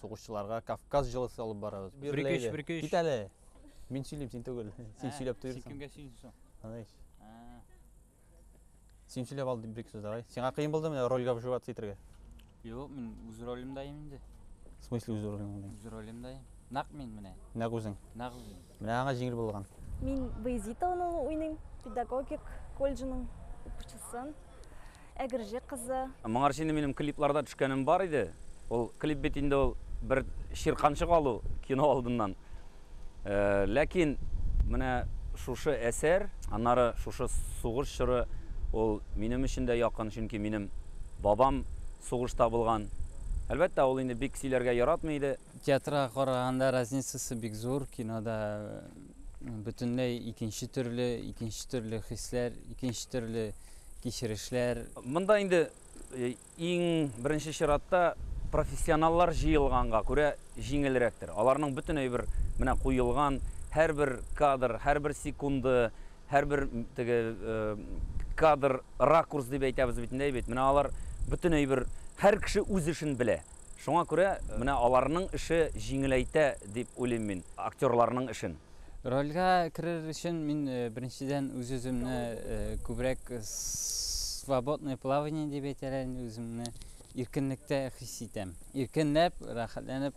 Сугышчыларга Кавказ җылысы алып барабыз. Бер Берләйдә. көч, бер көч. Кит әле. Мин сөйлим, син түгел. Син Ә, сөйләп Син туйрсың. кемгә сөйлисең? Аныч. Ә, Син сөйләп ал дип бер сүз давай. Сиңа кыен булды менә рольгә вживаться итәргә? Юк, мин үз ролемдә инде. В смысле үз ролеңне? Үз ролемдә. Нак мин менә. Нәк үзең. Нак үзем. Менә аңа җиңел булган. Мин Баязит Алынова уйныйм, педагогик колледжының укучысын, Әгерҗе кызы. Моңарчы инде минем клипларда төшкәнем бар иде. Ул клип бит инде ул бер чирканчык алу кино алдыннан. Ләкин менә шушы әсәр, аннары шушы сугыш чоры ул минем өчен дә якын, чөнки минем бабам сугышта булган. Әлбәттә, ул инде бик сөйләргә яратмый иде. Театрга караганда разницасы бик зур, кинода бөтенләй икенче төрле, икенче төрле хисләр, икенче төрле кичерешләр. Монда инде иң беренче чиратта профессионаллар җыелганга күрә җиңелрәктер. Аларның бөтен әйбер менә куелган, һәрбер кадр, һәрбер секунды, һәрбер теге кадр, ракурс дип әйтәбез бит инде, әйбит. Менә алар бөтен әйбер, һәр кеше үз эшен белә. Шуңа күрә менә аларның эше җиңеләйтә дип уйлыйм мин актерларның эшен. Рольгә керер өчен мин беренчедән үз-үземне күбрәк свободное плавание дип әйтәләр инде, үземне иркенлектә хис итәм. Иркенләп, рәхәтләнеп